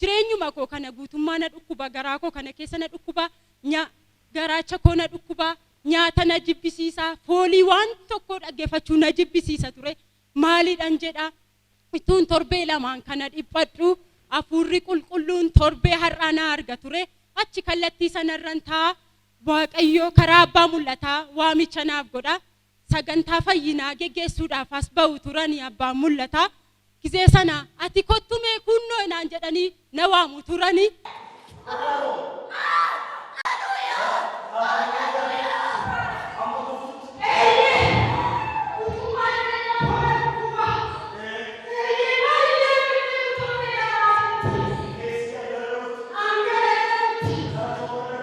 Jireenyuma koo kana guutummaa na dhukkuba, garaa koo kana keessa na dhukkuba, nya, garaacha koo na dhukkuba, nyaata na jibbisiisa, foolii waan tokkoo dhaggefachuu na jibbisiisa ture. Maaliidhan jedha, ittuun torbee lamaan kana dhiphadhu, Hafuurri Qulqulluun torbee har'aa na arga ture. Achi kallattii sanarran taa'a, Waaqayyo karaa abbaa mul'ataa waamicha naaf godha. sagantaa fayyinaa geggeessuudhaaf as ba'u turani abbaan mul'ataa. Gizee sana ati kottu mee kuunnoo naan jedhanii na waamu turani.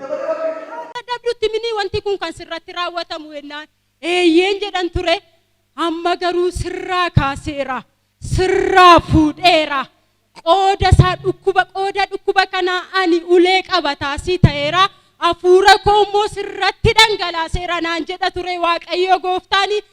dadhabdutti mini wanti kun kan sirratti raawwatamu jennaan eeyyeen jedhan ture amma garuu sirraa kaaseera sirraa fuudheera qooda isaa dhukkuba qooda dhukkuba kanaa ani ulee qabataasii ta'eera hafuura koo immoo sirratti dhangalaaseera naan jedha ture waaqayyo gooftaani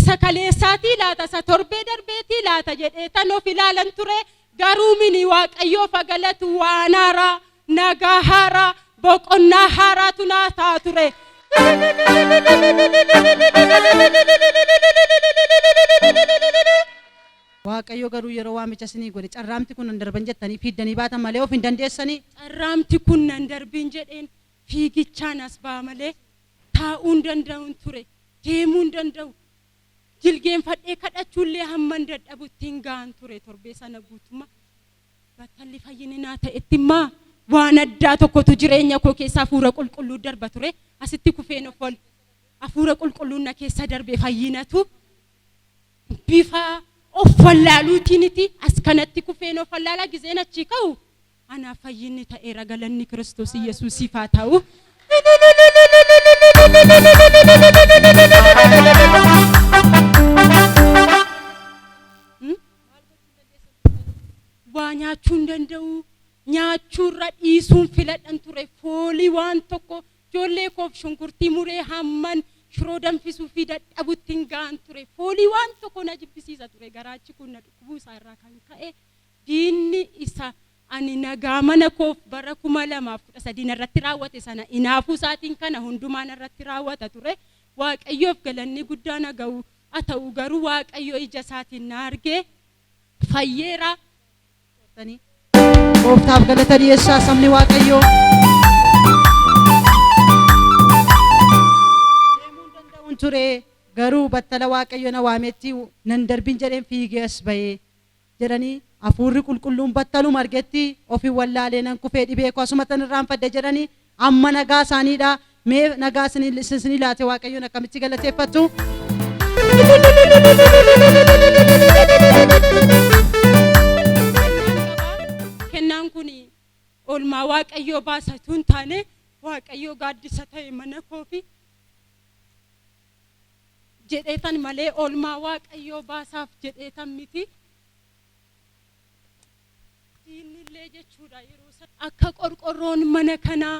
Isa kaleessaatii laata isa torbee darbeetii laata jedheetan of ilaalan ture garuu mini waaqayyoof haa galatu waan haaraa nagaa haaraa boqonnaa haaraatu naa ta'a ture. Waaqayyo garuu yeroo waamicha isinii godhe carraamti kun hin darban jettanii fiiddanii baatan malee of hin dandeessanii. Carraamti kun nan darbiin jedheen fiigichaan as ba'a malee Taa'uu hin danda'un ture. Deemuu hin danda'u. Jilgeenfadhee kadhachuullee hamman dadhabutti hin ga'an ture torbee sana guutummaa. Battalli fayyini naa ta'etti immaa waan addaa tokkotu jireenya koo keessa hafuura qulqulluu darba ture. Asitti kufeen of ol hafuura qulqulluun na keessa darbe fayyinatu bifa of wallaaluutiiniti as kanatti kufeen of wallaalaa gizeen achii ka'u Anaaf fayyinni ta'eera galanni Kiristoos Iyyasuusiif haa ta'u. Waa nyaachuu hin danda'u. Nyaachuurra dhiisuun filadhan ture foolii waan tokko ijoollee koof shunkurtii muree hamman shiroo danfisuu fi dadhabutti hin ga'an ture foolii waan tokko na jibbisiisa ture garaachi kun na dhukkubuu isaa irraa kan ka'e Diinni isa ani nagaa mana koof bara 2013 narratti raawwate sana inaafuu isaatiin kana hundumaa narratti raawwata ture. Waaqayyoof galanni guddaan ha ga'u. A ta'u garuu Waaqayyo ija isaatiin na argee fayyeera. Goortanii. Gooftaaf galata dhiyeessaa sabni Waaqayyoo. Deemuun danda'uun ture garuu battala Waaqayyo na waametti nan darbin jedheen fiigee as ba'ee. jedhanii Hafuurri Qulqulluun battaluma argetti ofin wallaalee nan kufee dhibee koo asumattan irraanfadhe jedhanii amma nagaa isaaniidha mee nagaa isinii laate waaqayyoon akkamitti galateeffattu. kennaan kun oolmaa waaqayyoo baasatu hin taane waaqayyoo gaaddisa ta'e mana koofi jedheetan malee oolmaa Waaqayyoo baasaaf jedheetan miti. Diinni illee jechuudha yeroo sana akka qorqorroon mana kanaa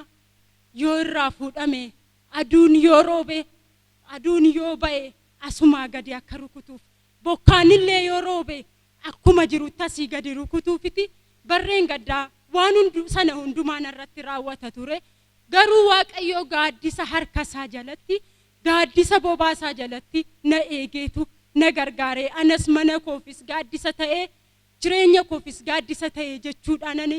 yoo irraa fuudhame aduun yoo roobe aduun yoo ba'e asumaa gadi akka rukutuuf bokkaan illee yoo roobe akkuma jirutti asii gadi rukutuufiti barreen gaddaa waan hundu sana hundumaa narratti raawwata ture Garuu Waaqayyoo gaaddisa harka isaa jalatti, gaaddisa bobaa isaa jalatti na eegeetu na gargaare. Anas mana koofis gaaddisa ta'e, jireenya koofis gaaddisa ta'e jechuudhaan ani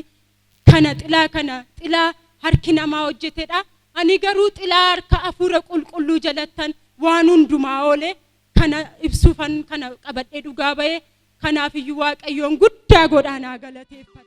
kana xilaa kana xilaa harki namaa hojjetedha. Ani garuu xilaa harka Hafuura Qulqulluu jalattan waan hundumaa oole kana ibsuufan kana qabadhee dhugaa ba'e. Kanaafiyyuu Waaqayyoon guddaa godhaan haa galateeffadha.